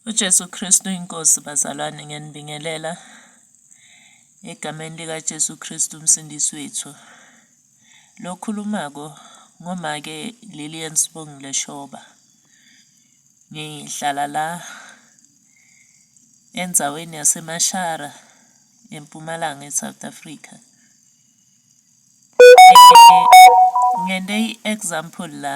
UJesu Kristu uyiNkosi bazalwane ngiyanibingelela egameni likaJesu Kristu umsindisi wethu. Lo khulumako ngomake Lilian Sibongile Shoba. Ngihlala la endzaweni yaseMashara empumalanga eSouth Africa. Ngente i-example la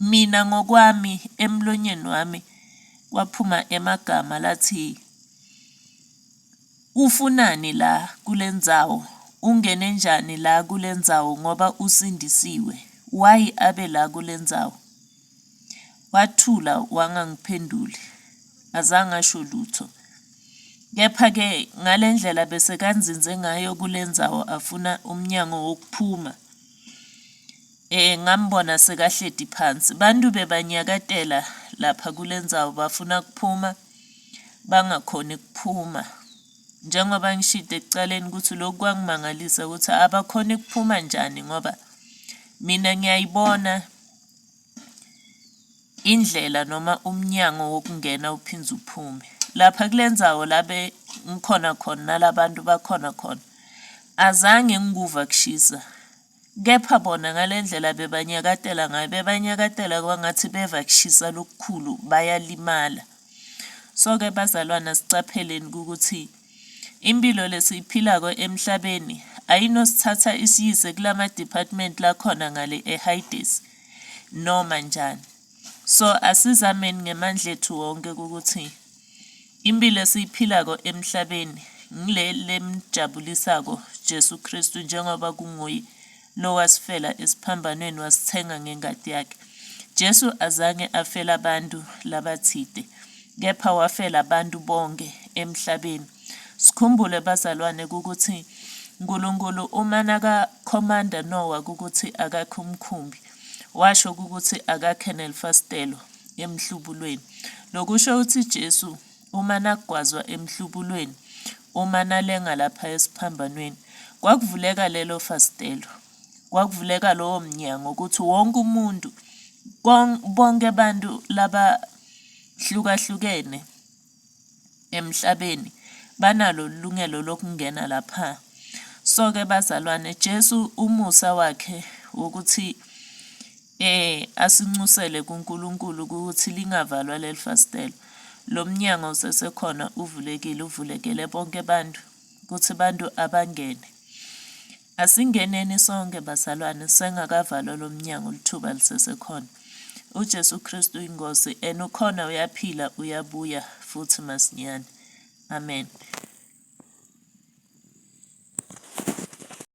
Mina ngokwami emlonyeni wami kwaphuma emagama lathi ufunani la kulendzawo ungene njani la kulendzawo ngoba usindisiwe why abe la kulendzawo wathula wangangiphenduli azange asho lutho kepha ke ngalendlela bese kanzinze ngayo kulendzawo afuna umnyango wokuphuma. Eh ngambona sekahledi phansi. Bantu bebanyakatela lapha kulendzawo bafuna kuphuma bangakhoni kuphuma. Njengoba ngishide ekucaleni ukuthi lokhu kwangimangalisa ukuthi abakhoni kuphuma njani ngoba mina ngiyayibona indlela noma umnyango wokungena uphinde uphume. Lapha kulendzawo labe ngikhona khona nalabantu bakhona khona. Azange ngikuva kushisa. Kepha bona ngale ndlela bebanyakatela ngayo, bebanyakatela kwangathi beva kushisa lokukhulu, bayalimala. So-ke bazalwane asiqapheleni ukuthi impilo lesiyiphilako emhlabeni ayinosithatha isiyise kulama department lakhona ngale eHayidesi noma njani. So asizameni ngemandla ethu wonke ukuthi impilo esiyiphilako emhlabeni ngile lemjabulisako Jesu Kristu njengoba kunguye lo wasifela esiphambanweni wasithenga ngengadi yakhe. Jesu azange afela abantu labathide kepha wafela abantu bonke emhlabeni. Sikhumbule bazalwane ukuthi uNkulunkulu uma nakakhomanda Nowa ukuthi akakhe umkhumbi washo ukuthi akakhe nelifasitelo emhlubulweni. Lokusho ukuthi Jesu uma nagwazwa emhlubulweni uma nalenga lapha esiphambanweni kwakuvuleka lelo fasitelo kwakuvuleka lowo mnyango ukuthi wonke umuntu bonke abantu laba hlukahlukene emhlabeni banalo ilungelo lokungena lapha. So-ke bazalwane, Jesu umusa wakhe wokuthi eh asincusele kuNkulunkulu ukuthi lingavalwa leli fasitela. Lo mnyango usesekhona uvulekile, uvulekele bonke abantu ukuthi abantu abangene. Asingeneni sonke bazalwane sengakavalwa lomnyango lithuba lisesekhona. UJesu Kristu uyiNkosi and ukhona uyaphila uyabuya futhi masinyane. Amen.